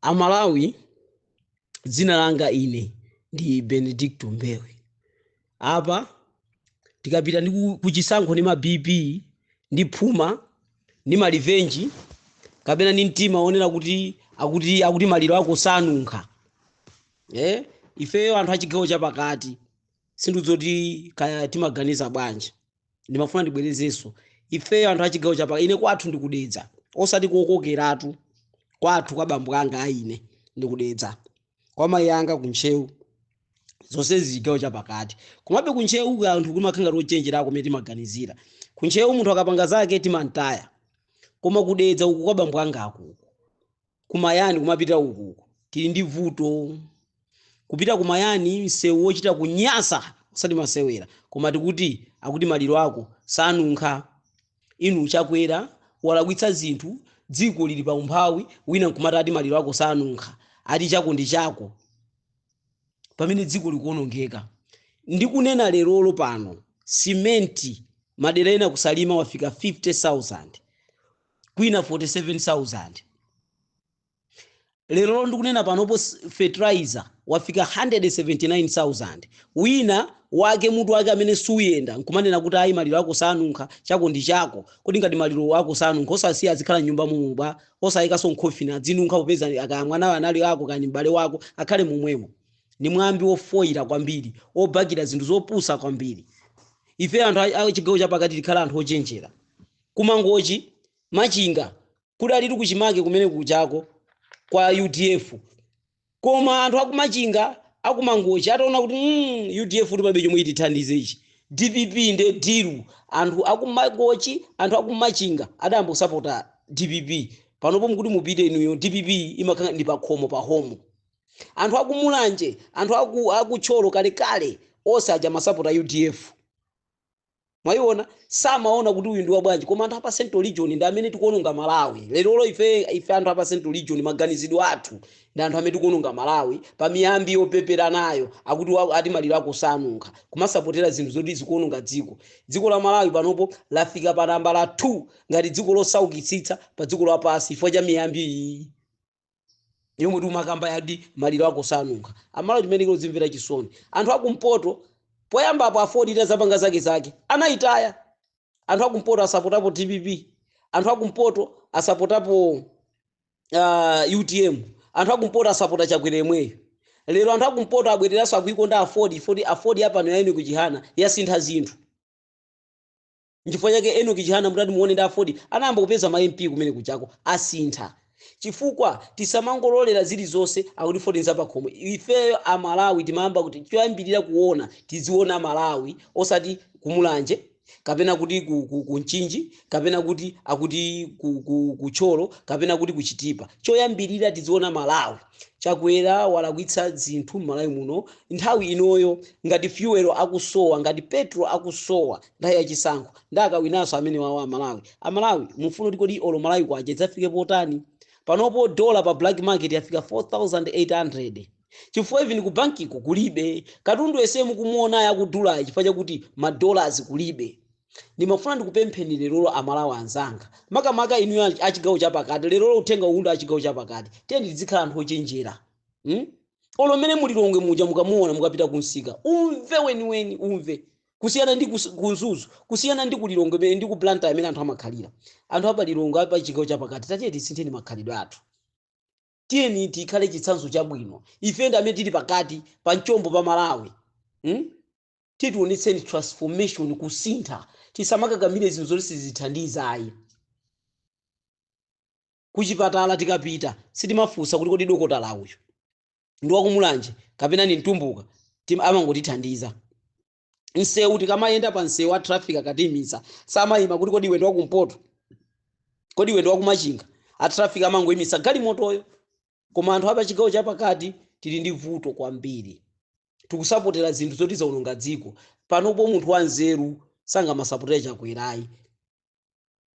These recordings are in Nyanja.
amalawi dzina langa ine ndi benedicto mbewe apa tikapita ndi ku- kuchisankho ndi ma bp ndi phuma ndi ma revenge kapena ndi mtima wonena kuti akuti akuti maliro ako sanunkha eh ifeyo anthu achigawo chapakati sindidziwa kuti kaya timaganiza bwanji ndimafuna ndibwerezenso ifeyo anthu achigawo chapakati ine kwathu ndikudedza osati kokokeratu kwathu kwa bambo anga aine ndikudedza kwa mayi anga kuntcheu zonse zachigawo chapakati komabe kuntcheu uku anthu kumakhalako ochenjerako mmene timaganizira kuntcheu munthu akapanga zake timantaya koma kudedza uku kwa bambo anga akuku kumayani kumapita uku uku tili ndi vuto kupita kumayani msewu wochita kunyasa osati masewera koma tikuti akuti maliro ako sanunkha inu chakwera walakwitsa zinthu dziko lili pa umphawi wina nkumati ati maliro ako sanunkha ati chako ndi chako pamene dziko likuonongeka ndikunena lero pano simenti madera ena kusalima wafika 50000 kwina 47000 lerolo ndikunena panopo fertilizer wafika 179000 wina wake mutu wake amene suuyenda nkumanena kuti ayi maliro ako sanunkha chako ndi chako kodi ngati maliro ako sanunkha osasiya azikhala mnyumba momo bwa osayikanso mu coffin adzinunkha popeza kaya mwanayo anali wako kani m'bale wako akhale momwemo ni mwambi wofoyira kwambiri wobakira zinthu zopusa kwambiri ife anthu a- a chigawo chapakati tikhale anthu ochenjera Ku Mangochi, Machinga, kudalitu kuchimake kumene kuchako kwa udf koma anthu aku Machinga, aku Mangochi ataona kuti mm UDF-tu palibe chomwe itithandize ishii dpp nde dilu. Anthu aku Mangochi, anthu aku Machinga adayamba kusapota dpp. Panopo mukuti mupite inuyo dpp imakhala ndi pakhomo, pahomu. Anthu aku Mulanje, anthu aku aku Thyolo kalekale onse aja amasapota udf. mwayiona samaona kuti uyu ndi wabwanji koma anthu apa central region ndi amene tikuononga malawi lerolo ife ife anthu apa central region maganizidwe athu ndi anthu amene tikuononga malawi pa miyambi yopepera nayo akuti wa- ati maliro ako sanunkha kumasapotera zinthu zoti zikuononga dziko dziko la malawi panopo lafika pa nambala 2 ngati dziko losaukitsitsa pa dziko lapansi chifukwa cha miyambi iyi yomwe timakamba yadi maliro ako sanunkha amalawi timene tikuzimvera chisoni anthu akumpoto poyamba apo aford itazapanga zake zake anayitaya anthu akumpoto asapotapo dpp anthu akumpoto asapotapo uh, utm anthu akumpoto asapota chakwera yemweyo lero anthu akumpoto abwereranso akuikonda aford foti aford apa nayo enoki chihana yasintha zinthu nchifukwa chake enoki chihana mutati muone ndiye aford inayamba kupeza ma mp kumene kujako asintha chifukwa tisamangololera zilizonse akuti aford nzapakhomo ifeyo amalawi timayamba kuti choyambirira kuona tiziona malawi osati kumulanje kapena kuti ku, ku, ku mchinji kapena kuti akuti ku, ku, ku thyolo kapena kuti kuchitipa choyambirira tiziona malawi chakwera walakwitsa zinthu m'malawi muno nthawi inoyo ngati fuel akusowa ngati petro akusowa nthawi ya chisankho ndiye akawinanso amene wawa amalawi amalawi mufuna kuti kodi olo malawi kwacha idzafike potani panopo dola pa black market yafika 4800 chifukwa even ku bankiko kulibe katundu yese mukumuonayo akudula chifukwa chakuti madolars kulibe ndimafuna ndikupempheni lerolo amalawi anzanga makamaka inuyo achi- achigawo chapakati lerolo uthenga uwu ndi achigawo chapakati tiyeni tidzikhala anthu ochenjera hmm? olo mmene mulilongwe muja mukamuona mukapita kumsika umve weniweni umve kusiyana ndi kus- ku mzuzu kusiyana ndi ku lilongwe mmene- ndi ku blantyre mmene anthu amakhalira anthu apa lilongwe apa chigawo chapakati tatiye tisintheni makhalidwe athu tiyeni tikhale chitsanzo chabwino ife ndi amene tili pakati pa mchombo pa malawi hmm? titionetseni transformation kusintha tisamakakamire zinthu zoti sizithandiza ayi kuchipatala tikapita sitimafunsa kuti kodi dokotala uyu ndi wakumulanje kapena ni mtumbuka tim- amangotithandiza msewu tikamayenda pa msewu a traffic akatiimitsa samayima kuti kodi iwe ndi wakumpoto kodi iwe ndi wakumachinga a traffic amangoyimitsa galimotoyo koma anthu apa chigawo chapakati tili ndi vuto kwambiri tikusapotera zinthu zoti zaononga dziko panopo munthu wanzeru sangamasapotera chakwera ayi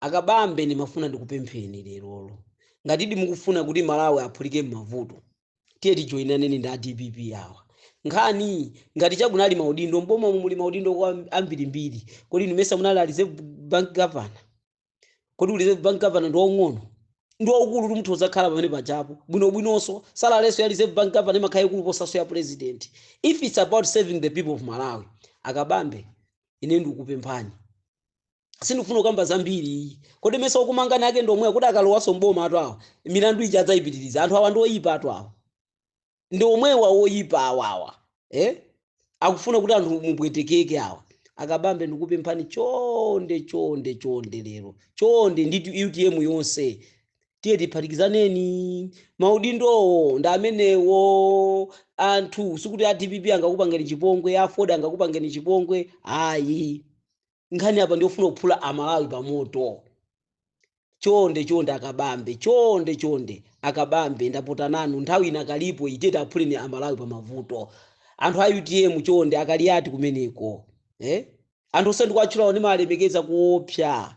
Akabambe ndimafuna ndikupempheni lerolo ngatidi mukufuna kuti Malawi apulumuke mmavuto tiye tijoinaneni ndi a dpp awa. Nkhani ngati cha kunali maudindo m'bomamu muli maudindo ambirimbiri kodi inu mesa munali a reserve bank governor? Kodi u reserve bank governor ndi waung'ono? Ndi waukulutu mutha kudzakhala pamene pajapo bwinobwinonso salarynso ya reserve bank governor imakhala yaikulu kuposanso ya president if it's about serving the people of Malawi. Akabambe ine ndikupemphani. sindikufuna kukamba zambiri iyi kodi mesa okumangani ake ndi omwewa kuti akalowaso mboma atu awa milandu ija adzayipitiriza anthu awa ndi oyipa atu awa ndi omwewa oyipa awawa eh? akufuna kuti anthu mupwetekeke awa akabambe ndikupemphani chonde chonde chonde lero chonde ndi utm yonse tiye tiphatikizaneni maudindowo ndi amenewo anthu sikuti a dpp angakupangeni chipongwe aford angakupangeni chipongwe ayi nkhani apa ndiyofuna kuphula amalawi pamoto chonde chonde akabambe chonde chonde akabambe ndapota nanu nthawi inakalipo itete aphuleni amalawi pa mavuto anthu a utm chonde akaliyati kumeneko eh? anthu onse ndikuwatchulawo ndimalemekeza kuopsa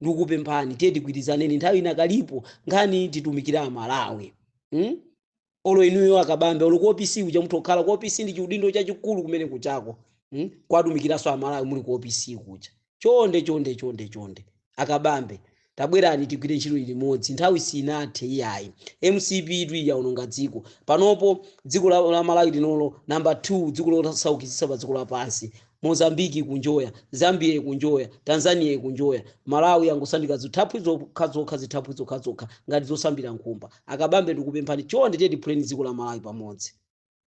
ndikupemphani tiye tigwirizaneni nthawi inakalipo nkhani titumikire amalawi hmm? olo inuyo akabambe olo kuopisi kuja muthu okhala kuopisi ndi chiudindo chachikulu kumene kuchako hmm? kuwatumikiranso amalawi muli kuopisi kuja chonde chonde chonde chonde akabambe tabwerani tigwire ntchito limodzi nthawi sinathe iyayi mcp itu yaononga dziko panopo dziko la, la malawi linolo namba 2 dziko losaukitsitsa pa dziko lapansi Mozambique ikunjoya, Zambia ikunjoya, Tanzania ikunjoya, Malawi yangosandika zithaphwi zokhazokha zithaphwi zokhazokha ngati zosambira nkhumba. Akabambe ndikupemphani chonde tiye tiphuleni dziko la Malawi pamoto.